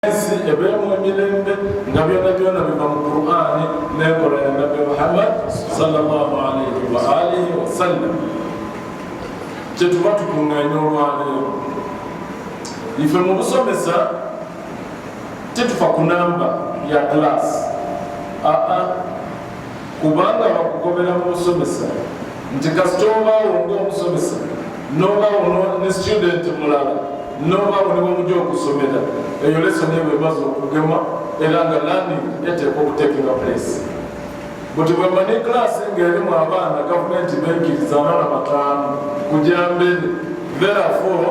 ensi ebeemu emirembe nga byona byona biva mu qurani nenkola ya nabbi muhammad salllahu alaihi waalihi wasallam kyetuba tukunganya olwaleero ife mu busomesa titufa ku namba ya glass aa ah, ah. kubanga bakugobera mu busomesa nti kasita obaawo ngaomusomesa nobaawo ne student mulala nobaawo ne bwemuja okusomera eyo lesoni ebo emaze okugema era nga landing eteekwa okutekinga place buti bwemani klaasi ngaerimu abaana gavumenti beikiriza abaana bataano kujamberi therefore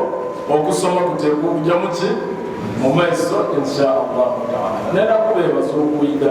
okusoma kuteekwa okujamu ki mu maiso insha allahu taala naye nakubeebaza okuyiga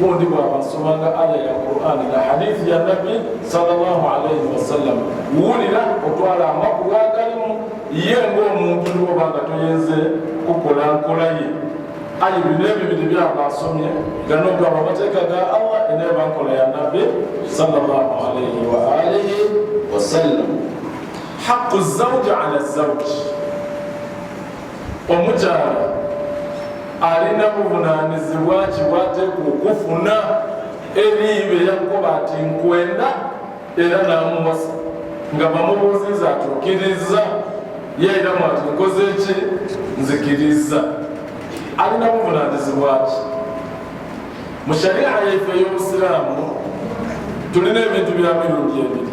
gundi bwaba asomanga aya ya qurani na hadithi ya nabbi salllah alaihi wasallam wulira otwala amakulu agalimu ye ngaomuntu niwoba nga toyinze kukola nkola ye ayi bino ebibiri byaba asomye ganogaba amateeka ga allah eneba nkola ya nabbi salllah alaihi waalihi wasallam haqu zauji ala zauji omukyala alina buvunanyizibwa kiwateku okufuna ebiibe yakuba ati nkwenda era namuwasa nga bamubuuziza ati okiriza yairamu ati nkoze ki nzikiriza alina buvunanyizibwaki mu sharia yaife ey'obusiraamu tulina ebintu bya mirundi ebiri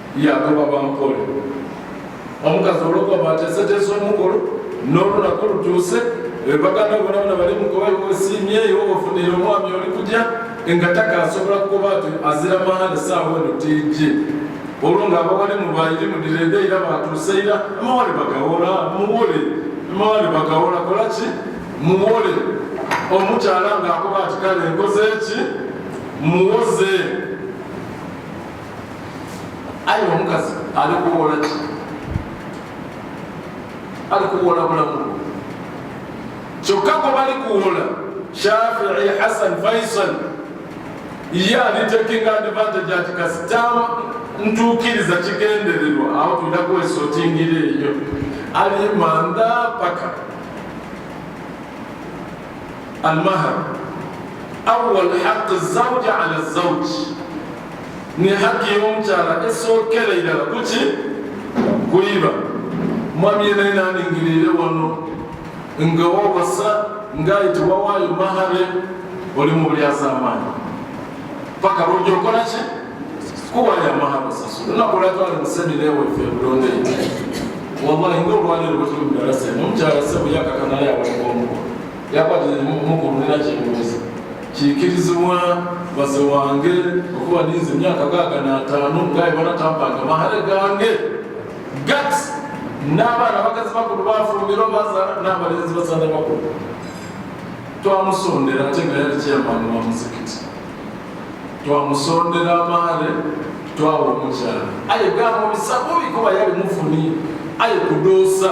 yagoba bampole omukazi olwokuba bateeseteesa omukulu n'olunaku lutuuse baganda bonabona bali mukuba osiimyeyo ofunire omwami oli kutya nga taka asobola kukuba ti azira mahale saawa eno tiji olwo nga abawali mubayiri mudirede era batuuse era amawale bagawola muwole amawale bagawola kolaki muwole omukyala ng'akuba ati kale nkoze ki muwoze ayi omukazi ali kuwola ki ali kuwola bulamu kyokka gwe bali kuwola shafii hasan faisal ye ali taking advantage ati kasita ntuukiriza kigendererwa awo tulina kwesotingira eyo ali manda paka almahar awal haq zauja ala zauji ne haki y'omukyala esookera irala kuki kuyiba mwami yena naningirire wano nga wawasa ngaye tewawaayo mahare oli mu bulyazaamaanyi paka lwoja okola ki kuwaayo amahare osasula nakola twali musemina eweffe bulonde wallahi nga olwaliro bwetuli mu darasa eno omukyala sebo yakakanayo awaliwo omuko kikirizibwa baze wange okuba ninze emyaka gaaga n'ataano ngaye banatampanga mahale gange gat n'abaana bakazi bakulu bafumbirwa bazaala n'abalenzi bazaala bakulu twamusondera ate nga yali kyamaani wa muzikiti twamusondera amaale twawa omukyala aye gamubisabubi kuba yali mufuni aye kudoosa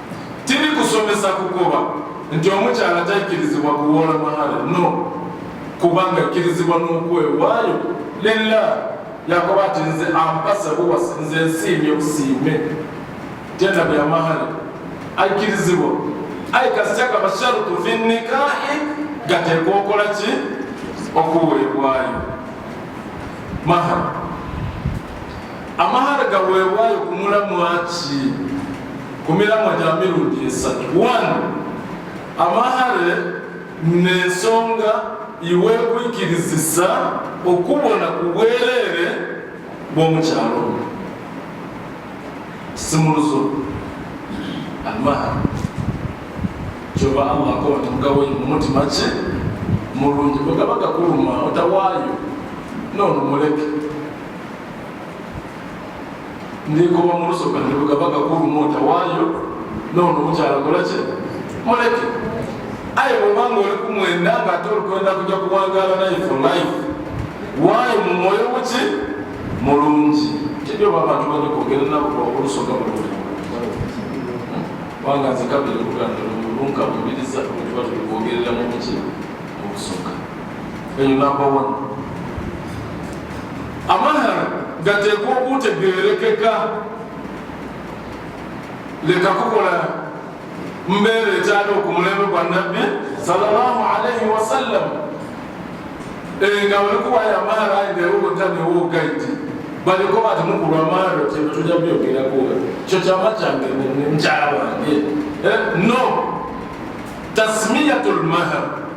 tiri kusomesa kugoba nti omukyala takkirizibwa kuwoola mahale no kubanga akkirizibwa n'okwewaayo lilla yakoba ati nze ampasa buwasi nze nsiimye obusiime tenda bya mahale akkirizibwa ayi kasitaka basharutu fi nikahi gateekwa okola ki okuweebwayo mahale amahale gaweebwayo kumulamwaki ku miramwa gya mirundi esatu one amahale nensonga iwekwikirizisa okubona ku bwereere bw'omukyalo simuluzo amahale kyoba allah akoba timugawo mumutima ki mulungi bwegaba gakuluma otawaayo nono muleke nekoba mulusoka nelugabaga kulumota wayo nono mukyala kolaki muleke aye bwobanga oli kumwenda nga ate olukwenda kuja kuwangala naye for life wayo mumwoyo muki mulungi tebyoba abantu banyokogera nabo olusoka bulungi kubanga nze kabiri kugamba olunka bubiriza okuba tubikwogerera mu buki obusoka eyo number one amahara gateekwa okutegerekeka leka kukola mbeera ekyali okumulembe gwa nabbi sallallahu alaihi wasallam eh, nga balikuwayo amahara ayi newogotanewogaiti baliko bati mukulwa amahara kyebyo tuja byogerako kyo kyama kyange mukyala wange eh, no tasmiyatu lmahara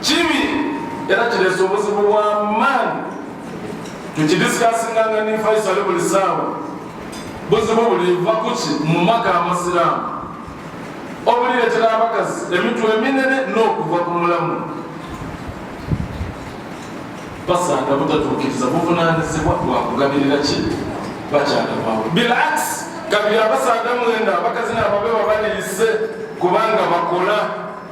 kibi era kirese obuzibu bwa maani tukidisikasinanga ne faisal buli saawa buzibu buliva kuki mu maka amasiraamu obuliretera abakazi emitwe eminene n'okuva ku mulamu basanga butatuukiriza buvunanyizibwa bwakugabirira ki bakyala bwawe bilakisi kabiri abasanga mwenda abakazi nababe babaneyise kubanga bakola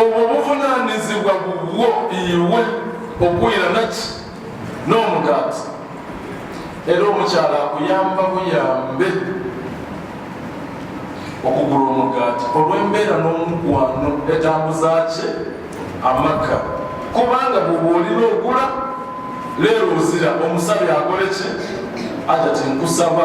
obwo buvunaanyizibwa bubwo iwe okuwulira naki n'omugaati era omukyala akuyamba buyambe okugula omugaati olw'embeera n'omukwano etambuza kye amaka kubanga bwebwolina ogula leero ozira omusabi akole ki aja tinkusaba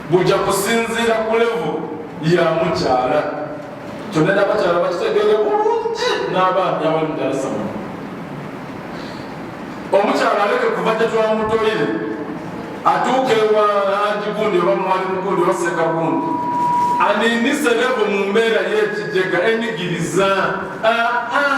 bujja kusinziira ku levu ya mukyala kyonna nabakyala bakitegeere bulungi n'abaami abali mu dalasama omukyala aleke kuva gye twamutoyire atuuka ewa langi gundi oba mwali mugundi oba seka gundi anindise levu mu mbeera y'ekijega enigiriza aa ah, ah.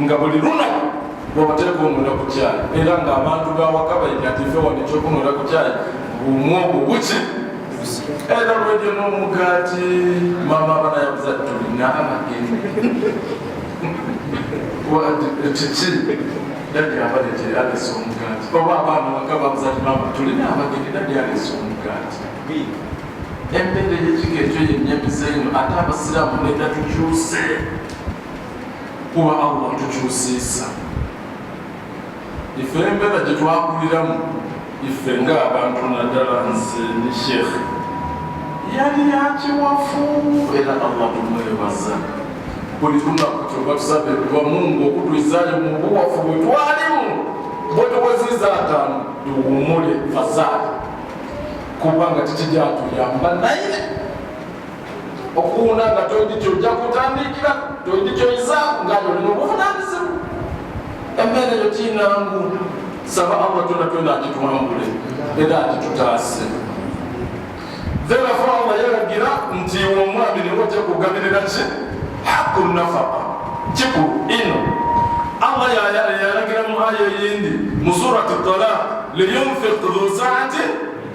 nga buli lunaku wabateeka omunda ku kyayi era nga abantu bawaka bayiga nti fe wano ekyokumunda ku kyayi bumu obwo buki era lwejo n'omugaati maama abana yabuza tulina amageni kiki dadi abade gye alesa omugaati oba abaana waka babuza ti maama tulina amageni dadi alesa omugaati embeera eyekika ekyo yenyamiza eno ate abasiraamu nedatukyuse kuba allah tukyusiisa ife embeera gye twakuliramu ife nga abantu naddala nze ne sheekhe yali yakiwafu era allah tumwebaza buli lunaku kyova tusabe kuba mungu okutwizayo mu buwafu bwe twalimu bwe tuweziza ataano tuwumule fasaali kubanga tekijatuyamba naye okuwunda nga tolina kyojja kutandikira tolina kyoyizaaku nga yolina obuvunanyizibwa embeera eyo kinangu saba allah tona twena agitwambule era agitutaase therefore allah yalagira nti omwami niwe ojja kugabirira ki haku nafaka kikulu ino allah yalagira mu aya eyindi mu surati talaq liyunfiq dhu saati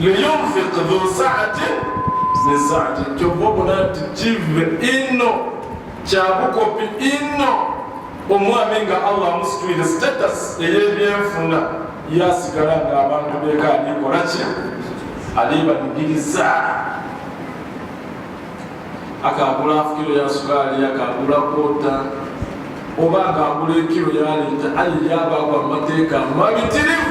liyunfik dhu saatin min saati kyova obona nti kive inno kyabukopi inno omwami nga allah amusitwire status eyebyenfuna yasigala nga abantu beka alikola ki alibanigiriza akagula afukiro ya sukaali akagula kota oba nga agula ekiro yaleeta aye yabaagwa mu mateeka mabitirivu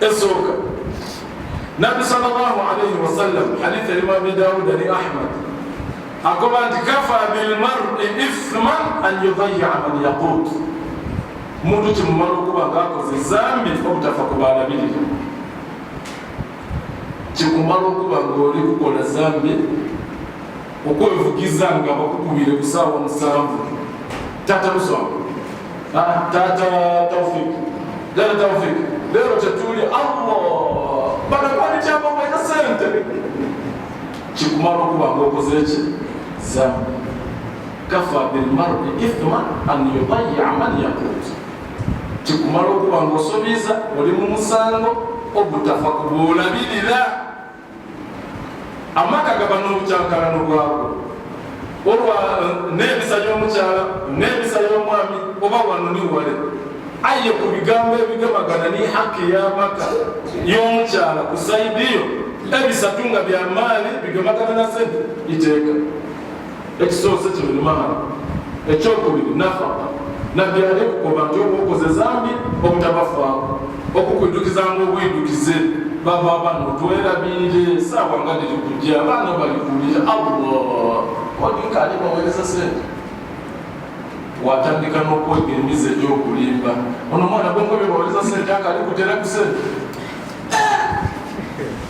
esooka nabbi salllahu alaihi wasallam hadith erimu abi dawuda ne ahmad agoba nti kafa bilmari ithman an yudaya man yaqut muntu kimumala okuba ngaakoze zambi obutafa ku baalabirira kikumala okuba ngaoli kukola zambi okwevugiza nga bakukubire ku saawa musanvu tata lusoma ah, tata taufik lero taufik lero tetuli allah banakwanityamu mwena sente kikumala okuba nga okoze ki zambi kafa bilmardi ithma an yudaya man yakut kikumala okuba nga osobiiza oli mu musango ogutafa kubuulabirira amaka gaba n'obukyankalano bwago olwa eh, n'empisa y'omukyala n'empisa y'omwami oba wano ni wale aye ku bigambo ebigamagana ni haki y'amaka y'omukyala ku saidiyo ebisatu nga bya maali bigamagana na sente iteeka ekisoose kino ni mahara ekyokubiri nafaka nabbi ali kukoba nti obukoze zambi obutabafaako okukwidukizanga obwidukize baba abana otwerabiire saawa nga diri kujja abaana balikuwulira allah odikali bawereza sente watandika nokwega emizi egyokulimba ono mwana gwengobe bawereza sente akali kutera ku sente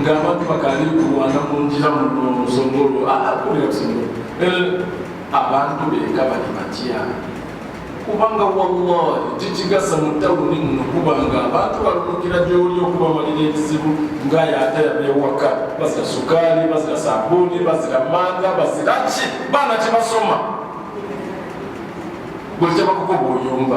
ngabantu bakali kulwana munjira musongolo akulira kusongolo abantu beka bali batya kubanga wallahi kikigasa mu tawuni muno kubanga abantu balumukira gyoli okuba walira ekizibu ngaye ate yabewaka bazira sukaali bazira sabuuni bazira manga bazira ki baana kibasoma buli kyabakukoba oyomba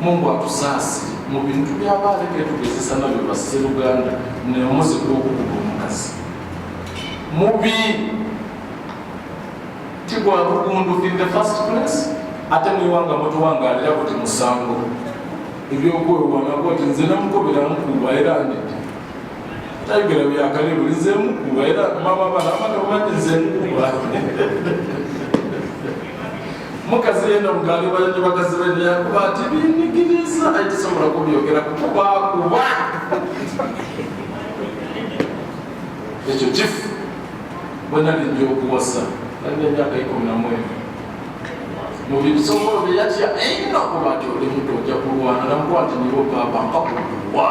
Mungu atusaasi mu bintu byaba aleke tugezesa nabyo basseruganda naye omuzi gw'okukuba omukazi mubi ti gwa bugundu in the first place ate muyiwanga mutuwangalira kuti musango ebyokwewanako ti nze namukobera nkuba era ndidi tayogera byakale buli nze mukuba era mama bana amata obadde nze nkuba mukazi yena mugambi balete bakazi bene yakuba ati binyigiriza ayi tisobola kubyogera kukuba kuba ekyo kifu bwenalija okuwasa alina emyaka ikumi namwezi mubisobola byeyatya eina kuba ti oli mutu oja kulwana namukwati nibo papa nkakukuwa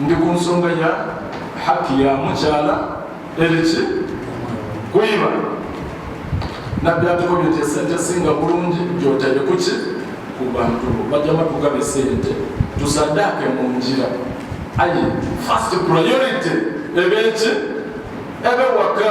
ndi ku nsonga ya haki ya mukyala eriki kuyiba nabbi atukomye nti esente esinga bulungi gyotadde kuki ku bantu bajama tugabe sente tusaddaake mu njira ayi first priority ebeeki ebewaka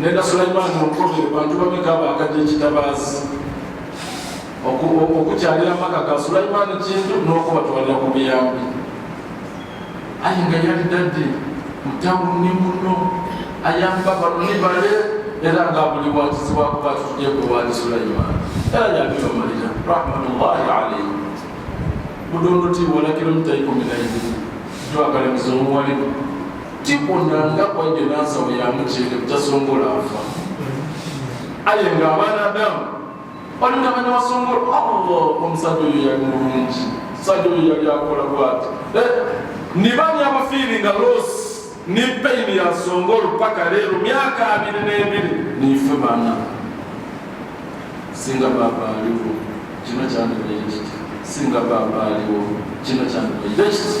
nenda sulaimaani mukobe bantu bameka abakadde ekitabaazi okukyalira amaka ga sulaimaani kintu n'okubatwalira ku biyambi aye nga yali dadde mutawulu ni muno ayamba baluni bale era nga buli wakizibwakuba tutudde gwe wali sulaimaani era yabibamalira rahmatullahi alaihi budondoti wala kilomita ikumi na ibiri jwakalemiza omuwalimu tikuna nga kwajja nansaba yamukyere butasongola afa aye nga abaana adamu balina bana basongola allah omusajja oyo yali mulungi omusajja oyo yali akola bwati eh, nibanya abafiiri nga los ni payini yasongolo paka leero myaka abiri n'ebiri nife bana singa baba aliwo kino kyandibaye kiti singa baba aliwo kino kyandibaye kiti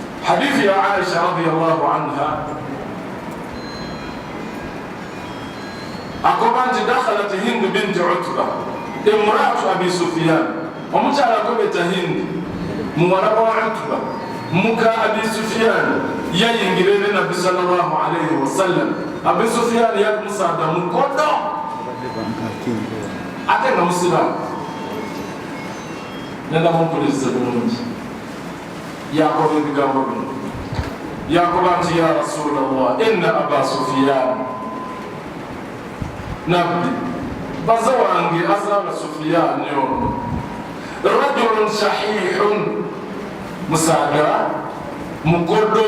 Hadithi ya Aisha radhiyallahu anha akoba nti dakhalat Hindu binti Utba imraatu Abi Sufyan, omukyala akobeta Hindi muwala wa Utba muka Abi Sufyan yayingira eri Nabbi sallallahu alayhi wasallam. Abi Sufyan yali musaada mukodo ate nga musiraamu nenda mumpuliriza bulungi yakola ebigambo bino yakoba nti ya rasula llah ina aba sufiyani nabbi baza wange azaala sufiyani ono rajulun sahihun musaga mugodo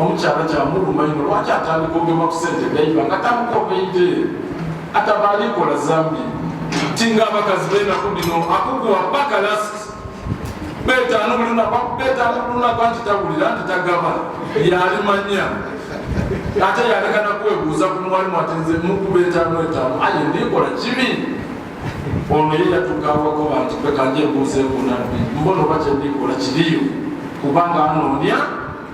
omukyala kyamuluma ino lwaki atandika ogema ku sente gaiba nga tamukobeide atabalikola zambi tinga abakazi benaku bino akukuwa paka last betaano bulunabetaano bulunaba nti tawulira nti tagaba yalimanya ate yalekana kwebuuza ku muwalimu atenze mukuba etaano etaano aye ndikola kibi ono ye yatukawako bantu kwekanjebuuza ekunabbi mbona oba kyendikola kiriyo kubanga anoonya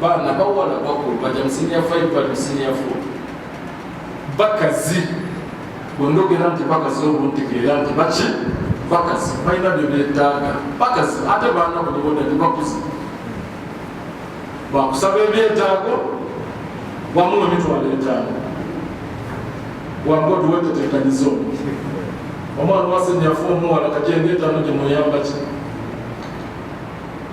baana bawala bakulu baja mu senior five bali mu senior four bakazi bwendogera nti bakazi obuntegeera nti baki bakazi balina bye beetaaga bakazi ate baana bonaboda nti bakuzi bakusaba ebyetaago wamu nemitwalo etaano wangodi wetetekanyizo omwana wasenyafu omuwala kajengetaano gyemuyambaki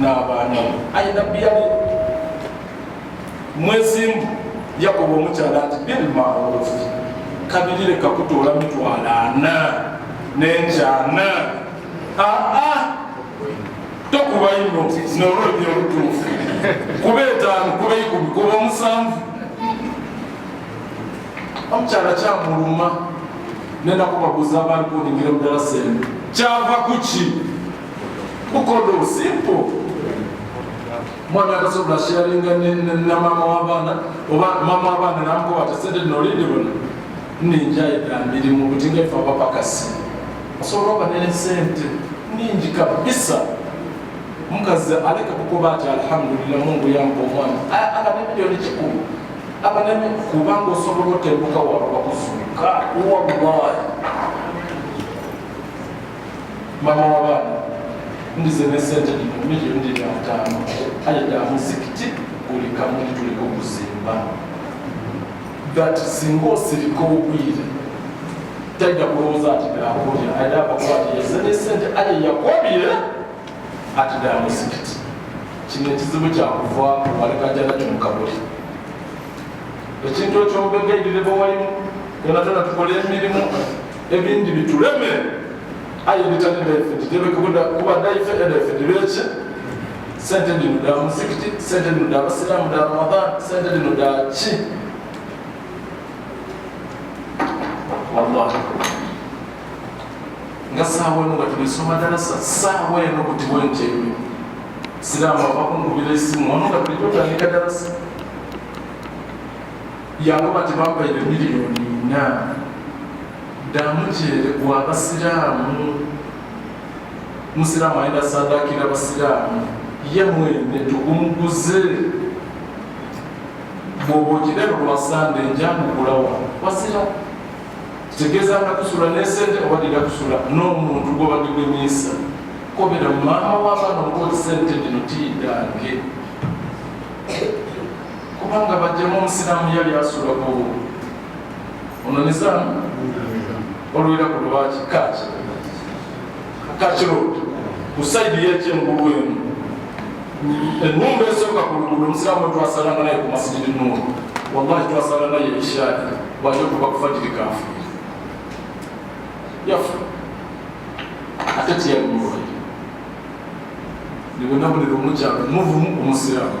n'abaana aye nabbi yali mwezimu yakoba omukyala nti bilmarufi kabiri leka kutoola mitwalo ana nenkyana aa tokuba ino nolobya olutuufu kuba etaano kuba ikumi kuba omusanvu omukyala kyamuluma nenakubaguza abaalikuningire mudala sente kyava kuki mukodo simple mwana akasobola sharinga namama wabaana oba mama wabaana namukoba tesente nolindi bona ninjayita mirimu kuti ngaife abapakasi osobola oba nene sente ningi kabisa mukazi aleka kukoba ati alhamdulillah mungu yamba omwana aba nemiliyoni kikulu aba nemi kubanga osobola otembuka waba bakuzuka wallahi mama w'abaana ndize ne ssente dino milioni diri ataano ayedda muzikiti buli kamu tuliko kuzimba that singa osirika obwire tajja kulowooza ati nakulya ayina abakuba ati yeze ne ssente aye yakobire ati dda muzikiti kino ekizibu kyakuva walekajana kyomukabuli ekintu ekyombega edireba walimu yona tona tukola emirimu ebindi bituleme aye bitali befe titebekubuda kubadde ife edefe tibeki sente dino da muzikiti sente dino da abasiramu da ramadan sente dino da ki wallahi nga saawa eno nga tubisoma ddala saawa eno kutibwa enkyebyo siraamu avakungubira esimu ono nga tulijotandika ddala yakuba tebampaire miliyoni ina ddamu kyere gwa abasiraamu musiraamu ayina sadakira abasiraamu ye mwene tugumuguze bwoba okirero lwa sande njamugulawa wasira kitegeeza nga kusula nesente oba dira kusula n'omuntu gwobadigwemiisa kobera maama w'abaana omukozi sente dino tiidange kubanga bajjamu omusiraamu yali asulako ono nizaamu olwera ku lwaki kaki kaki road ku saidi yekyengulu emu enumba esooka ku luguudo omusiraamu twasalanga naye ku masijidi nuuru wallahi twasala naye ishaadi bwaja okuba kufajiri kafu yafa ate tiyali mulwaire nibonabulira omukyalo muvumu omusiraamu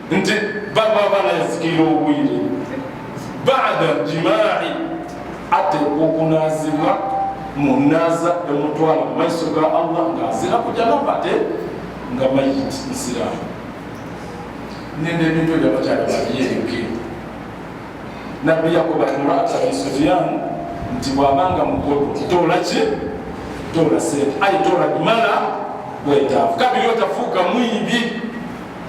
nti baba balazikira obwire bada jimaai ate okunazibwa munaza emutwala mu maiso ga allah ngaazira kujanaba ate nga mayiti nsiramu nende ebintu ebyo abakyala babyereke nabbi yakoba murata bisufiyan nti bwabanga mukulu tola ki tola sente ayi tola bimala bwetaavu kabiri otafuuka mwibi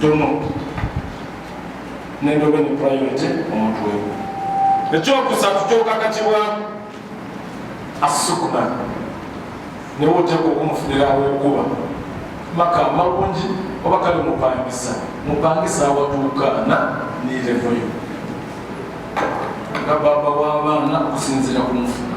tono nendobe ne priority omutwe ekyokusatu kyokakatibwa asukuna newe oteka okumufunira awokuba maka malungi oba kale mupangisa mupangisa awatuukaana nirevoyo nga baba w'abaana okusinziira ku mufuna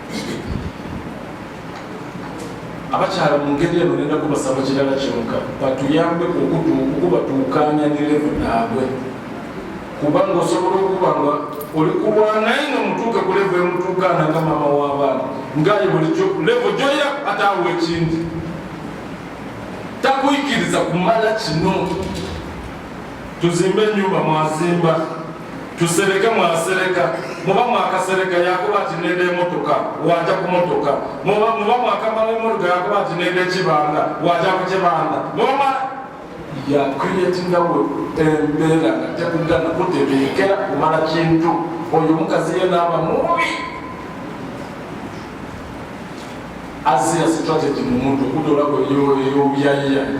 abakyala mu ngeri eno nenda kubasaba kirala kyoka batuyambe okubatuukanya ne levo naabwe kubanga osobola okuba nga oli kulwanaye nga mutuuke ku levo emutuukaana nga maama w'abaana ngaye bulijo levo gyoya ataawa ekindi takuyikiriza kumala kino tuzimbe enyumba mwazimba tusereke mwasereka muba mwakasereka yakuba ati nenda emotoka waja ku motoka muba mwakamala emotoka yakuba ati nenda ekibanda waja ku kibanda muba yakuyetinga we embeera nga tekugana kutebeekera kumala kintu oyo omukazi ye naaba mubi azira strategy mu muntu okudola kweyobyayiyani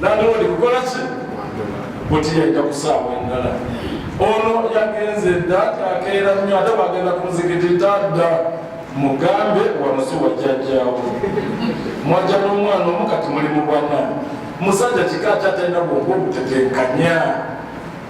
nandoodi kukola ki buti yajja kusaawa endala ono yagenze dda akeera nnyo ate bwagenda ku muzikiti tadda mugambe wanusi wajjajjaawo mwajja n'omwana omu kati muli mu bwana musajja kika kyatalina bwongo obutetenkanya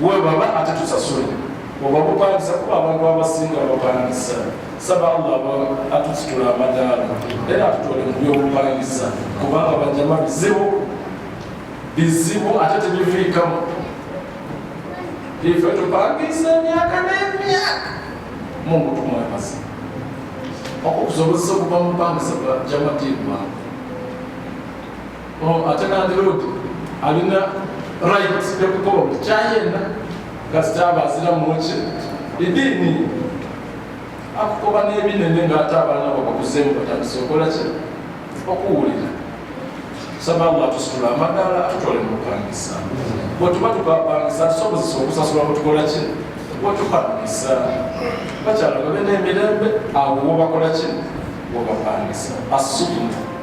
we baba ate tusasule oba bupangisa kuba abantu abasinga bapangisa saba allah aba atusitula amadaala era atutole mu byobupangisa kubanga bajama bizibu bizibu ate tebiviikamu ife tupangisa emyaka n'emyaka mungu tumwemazi okukusobozesa okuba mupangisa bajama tiibwangu Oh, ate nandiroodi alina right yokukola omukyayena kasita aba azira muki ediini akukoba n'ebinene ngaate abaana babakuzeemu batandise okola ki okuwulira saba allah tusitula amadaala atutwale mukupangisa bwetuba tukapangisa tusobozesa okusasula bwetukola ki bwetukapangisa bakyala babe n'emirembe abo wobakola ki wobapangisa asukumu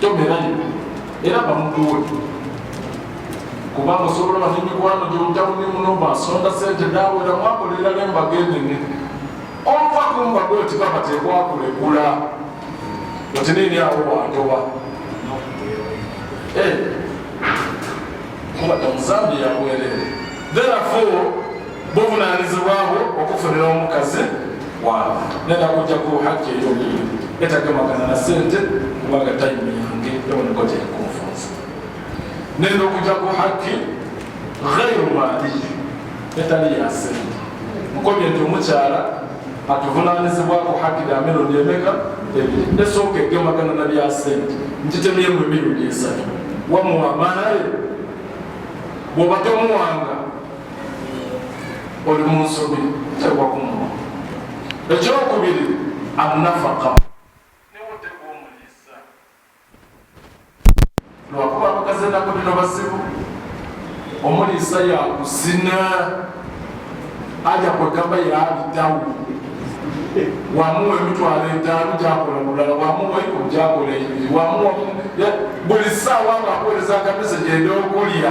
tomerani era bamukuwutu kubanga osobola bati mikwano gyobutabuni muno basonda sente dawera mwakolera nembaga enene ova kumbaga oti baba tekwakulekula oti nini awo wantoba eh, kuba tamuzambi yabwerere therefore buvunanyizibwabwe okufunira omukazi waabwe nenda kujja ku hajji eyomuyo etagemagana na sente kubanga tayimu yange yaboneka gyekunfunza nenda okujja ku hajji ghairu maliyi etali ya sente mukomye nti omukyala atuvunanyizibwa ku hajji lya mirundi emeka ebiri esooka egemagana na bya sente nkitemyemu emirundi esatu wamuwa maale bwoba tomuwanga oli mu nsobi tewagumwa ekyokubiri anafaka newotegwa omuliisa lwakuba abakazi enaku bino basibu omuliisa yakuzina aja kwegamba yabitawo wamuwa emitwalo etaano gyakola mulala wamuwa iko gyakola ebiri wamuwa buli saawa nga akoleza akamese gyenda okulya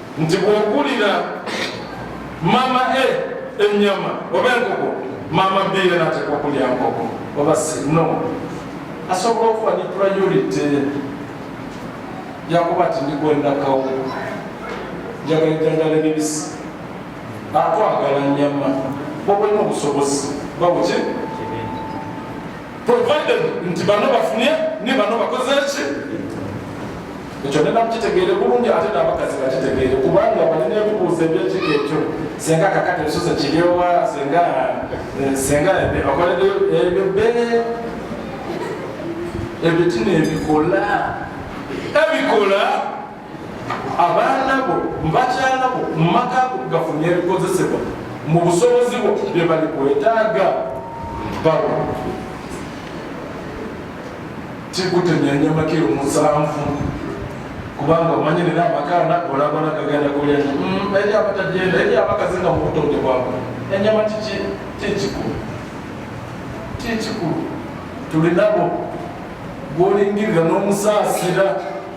nti bwogulira mama e ennyama oba enkoko mama b yena ateekwa okulya nkoko oba sino asobola okuba ne priority yakuba ti ndikwendakawo njagala ejjanjala ebibisi atwagala nyama bwobalina obusobozi babuki provided nti bano bafunye ne bano bakoze ki ekyo ne bakitegeere bulungi ate n'abakazi bakitegeere kubanga balina ebibuuzo ebyekika ekyo senga kakati ebisoso kiryowa senga eh, senga bakoledo ebyo bene ebitina ebikola ebikola abaana bo mubakyala bo mu maka go gafunye ebikozesebwa mu busobozi bwo bye bali kwetaaga bawo kikutenyanya makiro musanvu kubanga omanyi nera amakaana olabona gagenda kulya mm, eri abatagenda eri abakazi nga mubutonde bwabwe enyama kiki kikikulu kikikulu tulinabo gwolingirira n'omusaasira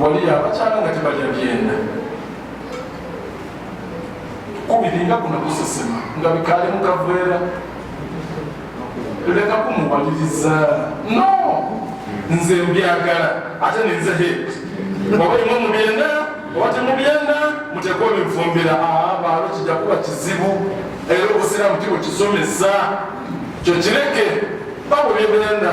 wali abakyala nga tebalya byenda kubiringa kuna kusesema nga bikali mukavera leka kumuwaliriza no nze mbyagala ate ninze he oba imu mubyenda oba temubyenda mutekwa ebivumbira abaalo ah, kijja kuba kizibu era obusiraamu kibwe kisomesa kyokireke babulibyenda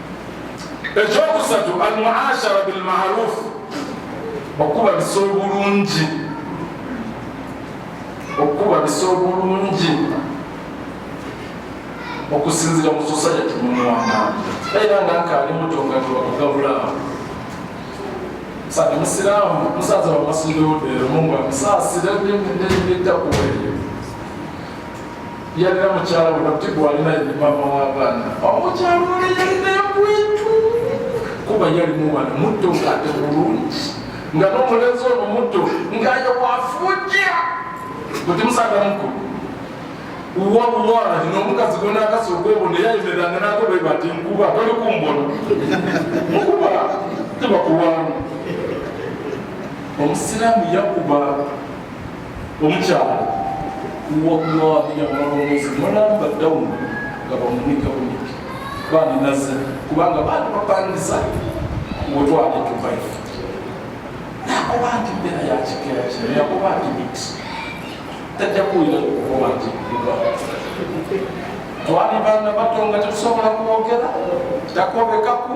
ekyokusatu almuashara bilmarufu okuba bisa obulungi okuba bisa obulungi okusinzira mu society mumwana era nga nkaali mutongatwakugabulaa sati musiraamu musaza wamasuluudeero mungu amusaasire netakuweeyo Yalina mukyala we nabti gwalina ye mama w'abaana. Omukyala oh, ono yalina ekwetu kuba yalimu mwana mutto ng'ate bulungi nga n'omulenzi ono mutto ng'ayo wafuja bwe timusanga mukulu wallahi n'omukazi gwe n'akasi okwebo naye ayimiranga n'akobeeba nti nkuba toli kumbona nkuba tebakuwamu omusiraamu yakuba Omukyala wallahi yabalongozi mulamba dawuni nga bamunika buniki bandinaze kubanga baali bapangisa wetwali tuvayo nakuba nti mbeera yakikeera kino yakuba nti mix tajja kuwulira okuba nti twali baana bato nga tetusobola kwogera takobekaku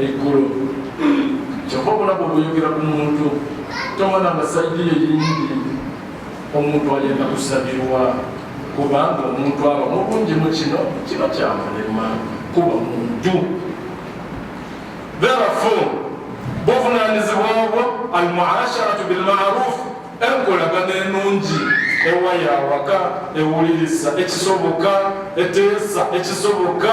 eggulo kyova obulaba obuyogera ku muntu tomana nga saidi yo yingi omuntu ayenda kusabirwa kubanga omuntu aba mubungi mu kino kino kyamulema kuba muntu therafu buvunanyizibwa obwo almuasharatu bilmaruf enkolagana enungi ewa yawaka ewulirisa ekisoboka eteesa ekisoboka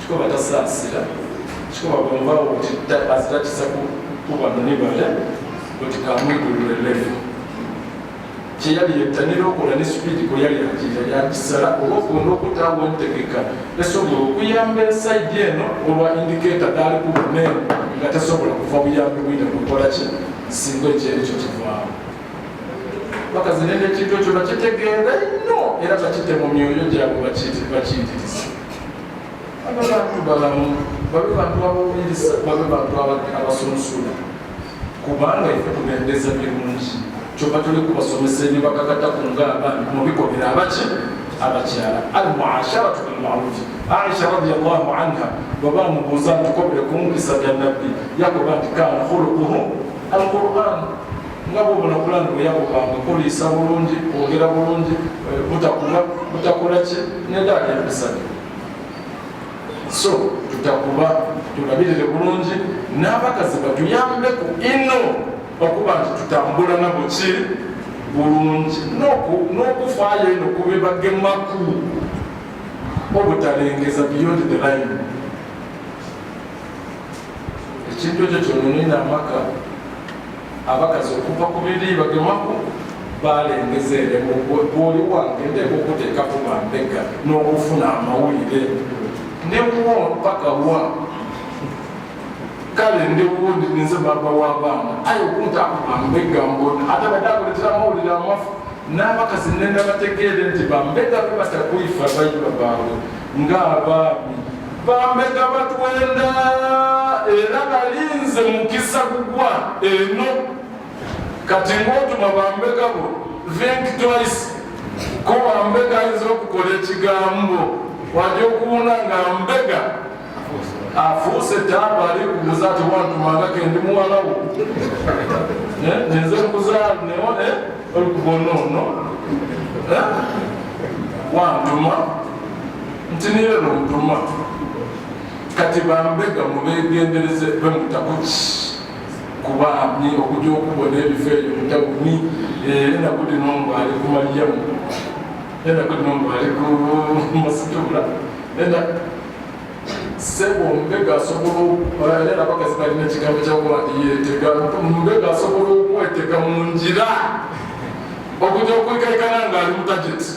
kikoba tasaasira kikoba bwemubaawo kuti azirakisa kubano ne bale kuti kamwigulule levu kyeyali yettanira okola ne sipiidi kwe yali agira yakisala olwokunda okutaawo entegeka esobola okuyamba esaidi eno olwa indikeeta gaali ku buneeno nga tasobola kuva buyambi bwine kukola ki singa ekyerekyo kivaawo bakazi nene ekintu ekyo bakitegeera nnyo era bakite mu myoyo gyabwe bakiyitiriza Bano bantu balamu, bano bantu abawuliriza, bano bantu abasunsula kubanga ife tubendeza birungi kyoka tuli kubasomesa ebibakakata ku ngaabantu mubikomera abaki abakyala almuasharatu bilmarufi aisha radiallahu anha baba mubuuza nti kobere ku mpisa bya nabbi yakoba nti kana khuluquhu alquran nga bwobona pulani bweyakupanga kuliisa bulungi kwogera bulungi eh, butakuba butakola ki nedaali emisani so tutakuba tulabirire bulungi n'abakazi batuyambeko ino okuba nti tutambula nabo ki bulungi n'okufaayo ino kubibagemaku obutalengeza beyond the line ekintu ekyo kyononina amaka abakazi okuva ku bibiri bagemako balengeza eremu bwoli wange ndeeka okuteeka ku bambega n'okufuna amawulire newo mpaka wa kale ndewo nze baba w'abaana aye okuntaku bambega mbona ate badde akuletera amawulire amafu n'abakazi nenda bategeere nti bambega be batakuifa bayiba baabwe ng'abaami bambega batwenda era balinze mukisa kugwa eno kati ng'otuma bambega bo think twice ko bambega ayinza okukola ekigambo waja okuwuna nga mbega afuuse ettaaba ali kubuza ati wantumanga kendi muwalawo eh, nenze kuzaala newo eh, olukubona ono eh, wantuma nti niyeno ntuma kati bambega mubegendereze bemutakuki kubamye okuja okubona ebifo ebyo mutagumi enaku lino mbu ali ku maliyamu enaku lino mbu ali ku masitula sebo mbega asobola okukolera abakazi balina ekigambo kyakuba nti yetega mbega asobola okwetega mu ngira okuja okwekaikana nga ali mutageti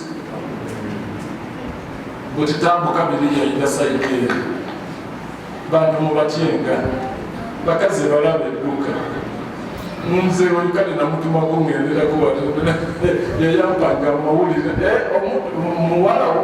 butitambuka biri yaina saidi eri bantu mubatyenga bakazi balaba edduka mumzee walikale namutuma kungenderako wayayambanga amawulire eh, muwalawo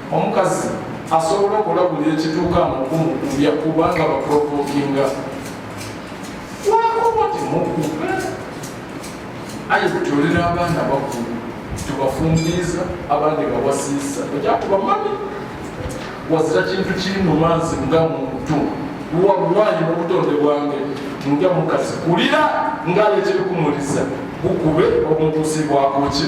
omukazi asobola okola buli ekituuka mukumukumbya kubanga baprovokinga wakuba temukuba aye kutolera abaana bakulu tubafumbiiza abandi bawasiisa ekyakuba mami wazira kintu kiri mu maazi nga muntu wallahi mu butonde bwange nga mukazi kulira ngalekyebikumuliza bukube omutusi bwakuki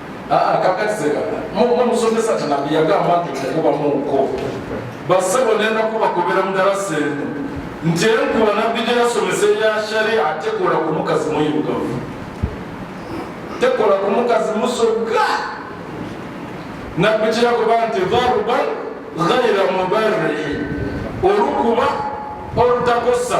Ah, kakati mumusomesa tinabi yagamba nti okukuba munko basebo nenda kuba kubera mudala sente nti enkuba nabbi gyeyasomesa eya sharia tekola ku mukazi muyugavu tekola ku mukazi musoga nabbi kyeyakuba nti darban ghaira mubarihi olukuba olutakosa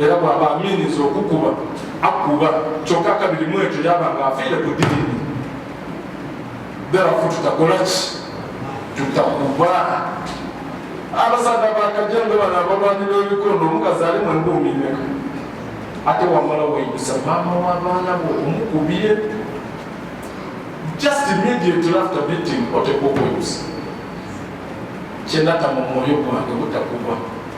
era bwaba aminiza okukuba akuba kyokka kabiri mu ekyo yaba nga afiire ku diini berafu tutakola ki tutakuba abasaga bakajanga bano abalwani b'ebikondo omukazi ali mu embuumi meka ate wamala weyisa maama w'abaana bo omukubye just immediately after meeting oteeka okweyusa kyenata mu mwoyo gwange butakuba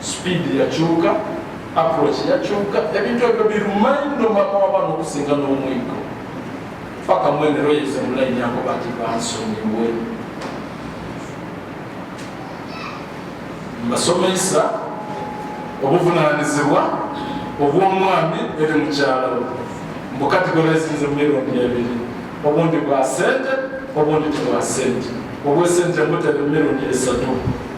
speed yakyuka approach yakyuka ebintu ebyo birumanyi nomaka wabana okusinga n'omwigo paka mwenero yeze mulayini ako bati bansonyiwe mbasomesa obuvunanyizibwa obwomwami eri mukyalo mbukatigolaesinze mumirundi ebiri obundi bwa sente obundi tebwa sente obwesente buteeka emirundi esatu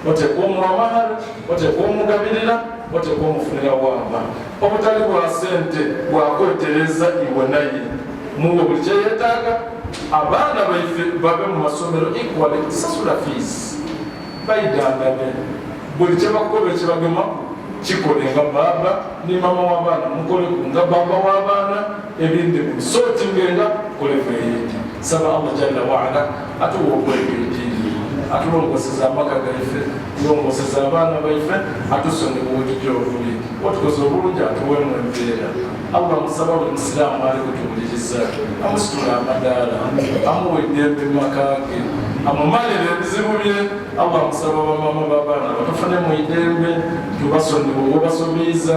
oteeka omuwa mahal oteeka omugabirira oteeka omufunira wamba obutali bwa sente bwakwetereza iwe naye muwe buli kyeyetaaga abaana baife babe mu masomero equally sasula fees baidandame buli kyebakukola ekyebagemaku kikole nga baaba ne mama w'abaana mukole ku nga baaba w'abaana ebindi musotingenga kole veyeti saba allah jalla waala atuwokweka eddiini atulongoseza amaka gaife tulongoseza abaana baife atusonyiwa obujiji obuli otukoze obulungi atuwemu embeera allah musaba buli musiraamu ali kutuwuliriza amusitula amadaala amuwa eddembe mu maka ge amumalire ebizibu bye allah musaba bamama babaana batufune mu idembe tubasonyiwa obasomiiza